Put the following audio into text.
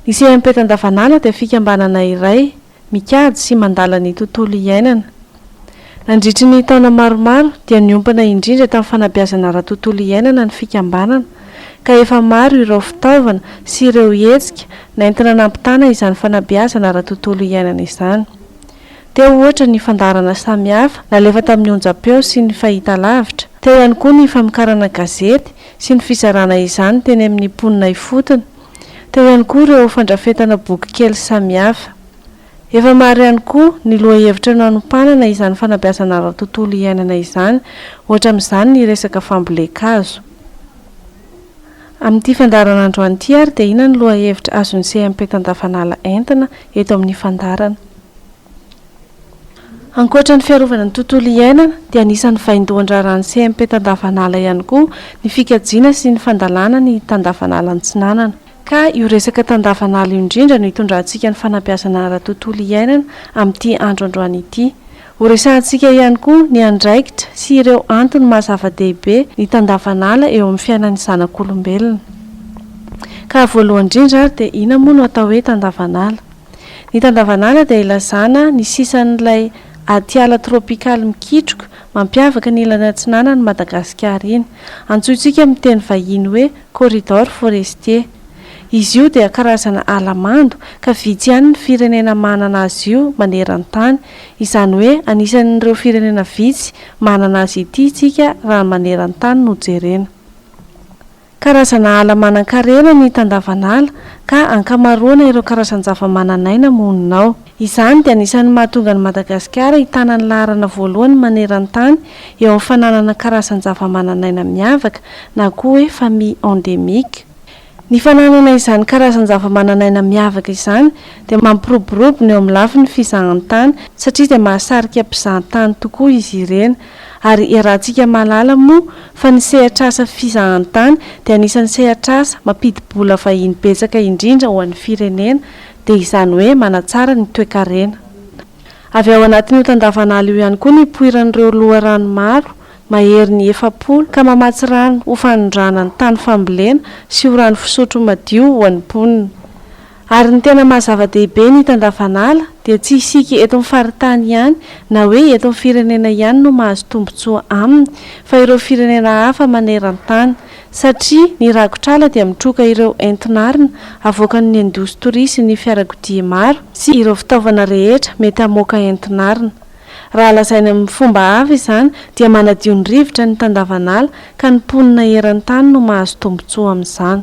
Ny CMPET andavanandro dia fikambanana iray mikajy sy mandala ny tontolo iainana. Nandritry ny taona maromaro dia niompana indrindra tamin'ny fanabeazana ara-tontolo iainana ny fikambanana ka efa maro ireo fitaovana sy ireo hetsika nentina nampitana izany fanabeazana ara-tontolo iainana izany. Teo ohatra ny fandaharana samihafa nalefa tamin'ny onjam-peo sy ny fahitalavitra. Teo ihany koa ny famokarana gazety sy ny fizarana izany teny amin'ny mponina ifotony. Teo ihany koa ireo fandrafetana bokikely samihafa. Efa maro ihany koa ny lohahevitra nanompanana izany fanabeazana ara-tontolo iainana izany, ohatra amin'izany ny resaka fambolen-kazo. Amin'ity fandaharana androany ity ary dia inona no lohahevitra azon'ny CMP Tandavanala entina eto amin'ny fandaharana. Ankoatra ny fiarovana ny tontolo iainana dia anisan'ny vaindohan-draharahan'ny CMP Tandavanala ihany koa ny fikajiana sy ny fandalana ny Tandavanala Antsinanana. Ka io resaka Tandavanala io indrindra no itondrantsika ny fanabeazana ara-tontolo iainana amin'ity andro androany ity. Horesahantsika ihany koa ny andraikitra sy ireo antony maha zava-dehibe ny tandavan'ala eo amin'ny fiainan'ny zanak'olombelona. Ka voalohany indrindra ary dia ina moa no atao hoe tandavan'ala? Ny tandavan'ala dia ilazana ny sisan'ilay atiala trôpikaly mikitroka mampiavaka ny ilany atsinanan'i Madagasikara iny. Antsointsika amin'ny teny vahiny hoe corridor forestier. Izy io dia karazana ala mando ka vitsy ihany ny firenena manana azy io maneran-tany Izany hoe anisan'ireo firenena vitsy manana azy ity isika raha ny maneran-tany no jerena. Karazana ala manan-karena ny tandavan'ala ka ankamaroana ireo karazan-javamananaina monina ao. Izany dia anisan'ny mahatonga an'i Madagasikara hitana ny laharana voalohany maneran-tany eo amin'ny fananana karazan-javamananaina miavaka na koa hoe famille endémique. Ny fananana izany karazan-javamananaina miavaka izany dia mampiroborobo ny eo amin'ny lafiny fizahantany satria dia mahasarika mpizahantany tokoa izy ireny ary iarahantsika mahalala moa fa ny sehatr'asa fizahantany dia anisan'ny sehatr'asa mampidi-bola vahiny betsaka indrindra ho an'ny firenena dia izany hoe manatsara ny toekarena avy ao anatin'io tandavan'ala io ihany koa nipoiran'ireo loharano maro mahery ny efapolo ka mamatsy rano ho fanondrana ny tany fambolena sy ho rano fisotro madio ho an'ny mponina. Ary ny tena maha zava-dehibe ny hita andavan'ala dia tsy isika eto amin'ny faritany ihany na hoe eto amin'ny firenena ihany no mahazo tombontsoa aminy fa ireo firenena hafa maneran-tany satria ny rakotr'ala dia mitroka ireo entin'arina avoakan'ny indostoria sy ny fiarakodia maro sy ireo fitaovana rehetra mety hamoaka entin'arina Raha lazaina amin'ny fomba hafa izany dia manadio ny rivotra ny tandavan'ala ka ny mponina eran-tany no mahazo tombontsoa amin'izany.